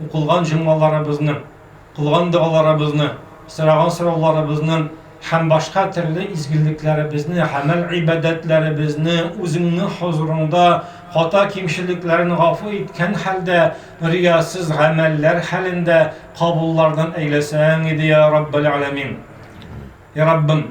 Укылган җомгаларыбызны, кылган догаларыбызны, сораган сорауларыбызны һәм башка төрле изгелекләребезне, гамәл-гыйбадәтләребезне Үзеңнең хозурыңда хата-кимчелекләрен гафу иткән хәлдә, риясыз гамәлләр хәлендә кабуллардан әйләсәң иде, йа Раббәл-Аләмин. Йа Раббым!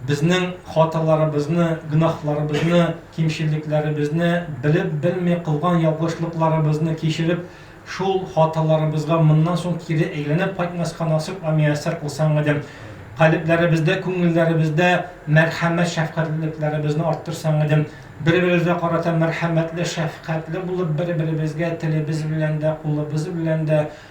Безнең хаталарыбызны, гөнаһларыбызны, кимчелекләребезне, белеп-белми кылган ялгышлыкларыбызны кичереп, шул хаталарыбызга моннан соң кире әйләнеп кайтмаска насыйп ва мияссәр кылсаң иде. Калебләребездә, күңелләребездә мәрхәмәт-шәфкатьлелекләребезне арттырсаң иде. Бер-беребезгә карата мәрхәмәтле, шәфкатьле булып, бер-беребезгә телебез белән дә, кулыбыз белән дә,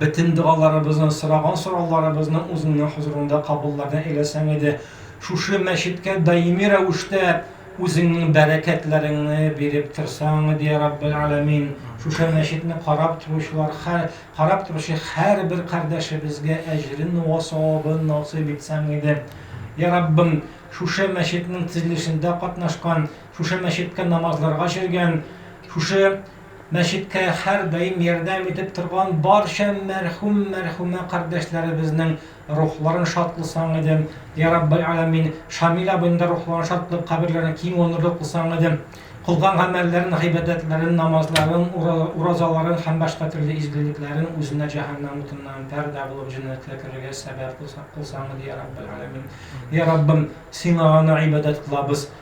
бөтен догаларыбызны, сораган сорауларыбызны үзеңнең хозурыңда кабулларга әйләсәң иде. Шушы мәчеткә даими рәвештә үзеңнең бәрәкәтләреңне биреп торсаң иде, я Раббель Аламин. Шушы мәчетне карап торучылар, карап торучы һәрбер кардәшебезгә әҗрен вә савабын насыйп итсәң иде. Я Раббым, шушы мәчетнең төзелешендә катнашкан, шушы мәчеткә намазларга йөргән, шушы Мәчеткә һәрдаим ярдәм итеп торган барча мәрхүм, мәрхүмә кардәшләребезнең рухларын шатлысаң иде. Йә Раббель Аләмин, Шамил абыйның да рухларын шатлап, каберләрен киң оныры кылсаң иде. Кылган гамәлләрен, гыйбадәтләрен, намазларын, уразаларын һәм башка төрле изгелекләрен үзенә җәһәннәм утыннан пәрдә булып җәннәткә керергә сәбәп кылсаң иде, йә Раббель Аләмин. Йә Раббым, Сиңа гына гыйбадәт кылабыз,